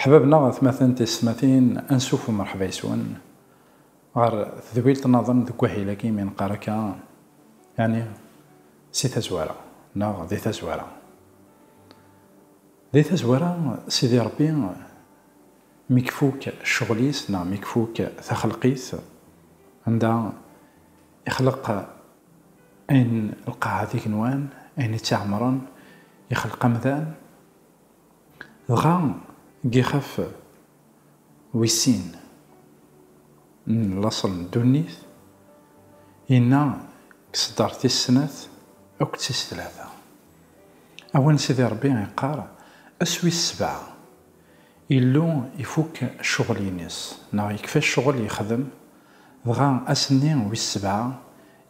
Ḥbab neɣ atmaten tismatin ansuf u merḥba yeswen ɣer tedwilt naḍen deg wahil agi mi neqqar akka yani si tazwara neɣ di tazwara. Di tazwara, Sidi Ṛebbi mi ifuk ccɣel-is neɣ mi ifuk taxelq-is, anda ixleq ayen lqaɛa d igenwan, ayen itt-iɛemṛen, ixleq amdan, dɣa ixef. Wis sin n laṣel n ddunit, inna deg ṣṣdar tis snat akked tis tlata. Awen Sidi Rebbi iqqar, ass wis sebɛa, Illu ifukk cceɣl-ines, neɣ yekfa ccɣel yexdem, dɣa ass-nni wis sebɛa,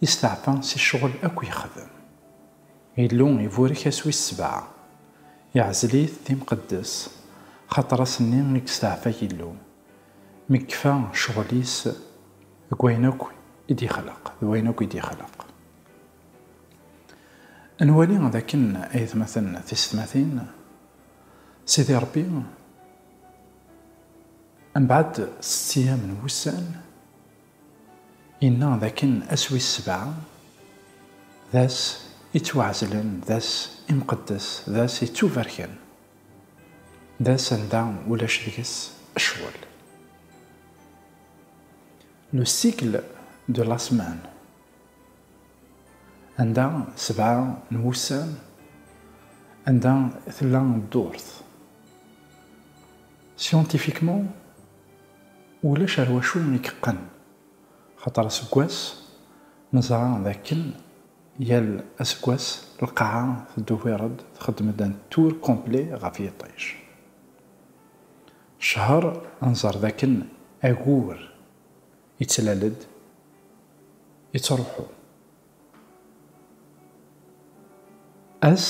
isteɛfa si ccɣel akk yexdem. Illu iburek ass wis sebɛa, iɛzel-it d imqeddes, xaṭer ass-nni i yesteɛfa Yillu, mi yekfa ccɣel-is deg wayen akk i d-yexleq, d wayen akk i d-yexleq. Ad nwali d akken, ay atmaten tisetmatin, Sidi Ṛebbi, mbeɛd setti-am n wussan, Yenna d akken ass wis sebɛa d ass yettwaɛezlen, d ass imqeddes, d ass yettubarken, d ass anda ulac deg-s ccɣel. Le cycle de la semaine, anda sebɛa n wussan anda tella ddurt. Scientifiquement, Ulac ar wacu i yeqqen. Xaṭer aseggas neẓra d akken yal aseggas lqaɛa teddubired txeddem-d un tour complet ɣef yiṭij. Ccehr nẓer d akken agur yettlal-d, yettruḥu. Ass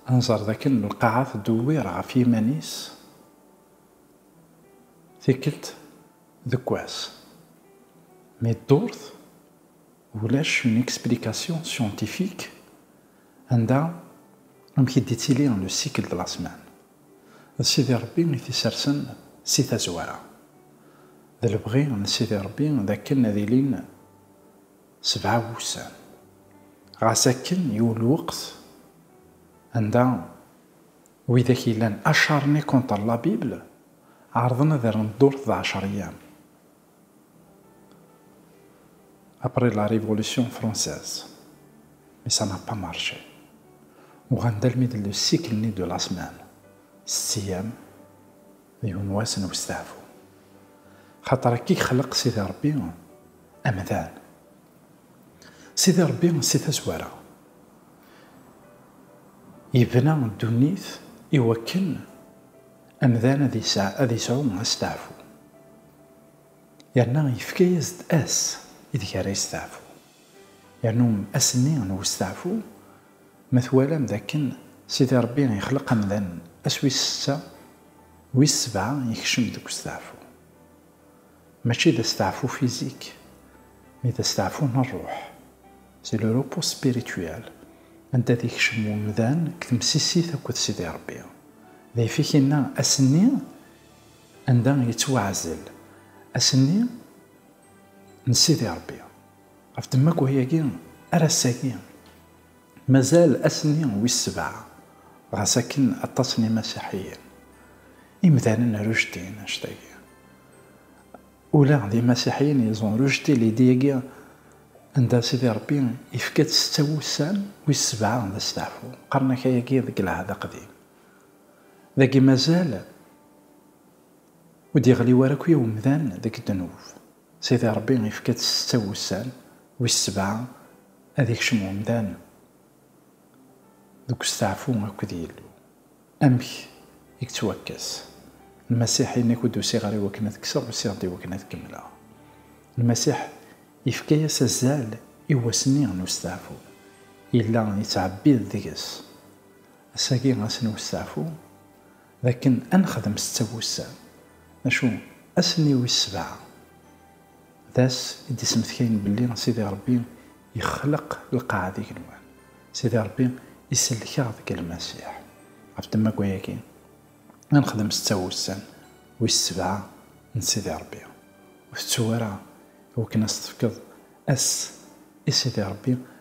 nẓer d akken lqaɛa teddubir ɣef yiman-is Tikkelt deg wass. Mi ddurt, ulac une explication scientifique anda amek i d-ittili le cycle de la semaine. D Sidi Rebbi i t-isersen si tazwara. D lebɣi n Sidi Rebbi d akken ad ilin sebɛa wussan. Ɣas akken yul lweqt anda Widak yellan acharnés contre la Bible ɛerḍen ad rren ddurt d ɛecriyam. Après la Révolution française, mais ça n'a pas marché. Uɣalen-d almi d le siècle-nni de la semaine, setti-yam, yiwen n wass n westeɛfu. Xaṭer akka i yexleq Sidi Rebbi amdan, Sidi Ṛebbi si tazwara yebna ddunit i wakken amdan ad yesɛu asteɛfu, yerna yefka-as-d ass ideg ara yesteɛfu, yernu ass-nni n westeɛfu, ma twalam d akken Sidi Ṛebbi yexleq amdan ass wis setta, wis sebɛa yekcem deg westeɛfu. Mačči d asteɛfu fizik, mi d asteɛfu n rruḥ, c'est le repos spirituel, anda ad ikcem wemdan deg temsisit akked Sidi Rebbi. D ayefki inna, ass-nni anda yettwaɛzel, ass-nni n Sidi Rebbi. Ɣef ddemma n wayagi, ar ass-agi. Mazal ass-nni wis sebɛa, ɣas akken aṭas n Imasiḥiyen, imdanen rejetin annect-agi. Ula d Imasiḥiyen ils ont rejeté l'idée-agi anda Sidi Ṛebbi yefka-tt setta wussan, wis sebɛa d asteɛfu. Qqaren-ak ayagi deg Lɛehd Aqdim. Dagi mazal ur d-yeɣli wara akya umdan deg ddnub. Sidi Ṛebbi ifka-d setta wussan, wis sebɛa ad ikcem umdan deg usteɛfu akked Yillu. Amek i yettwakkes? Lmasiḥ yenna-k ur d-usiɣ ara i wakken ad kkseɣ, usiɣ-d i wakken ad kemmleɣ. Lmasiḥ ifka-yas azal i wass-nni n usteɛfu, yella yettɛebbid deg-s. Ass-agi, ass n usteɛfu. D akken ad nexdem setta wussan, macu ass-nni wis sebɛa, d ass i d-isemtkayen belli Sidi Rebbi yexleq lqaɛa d igenwan, Sidi Rebbi isellek-aɣ deg Lmasiḥ. Ɣef ddemma n wayagi, ad nexdem setta wussan wis sebɛa n Sidi Rebbi. Ur tettu ara i wakken ad s-tefkeḍ ass i Sidi Rebbi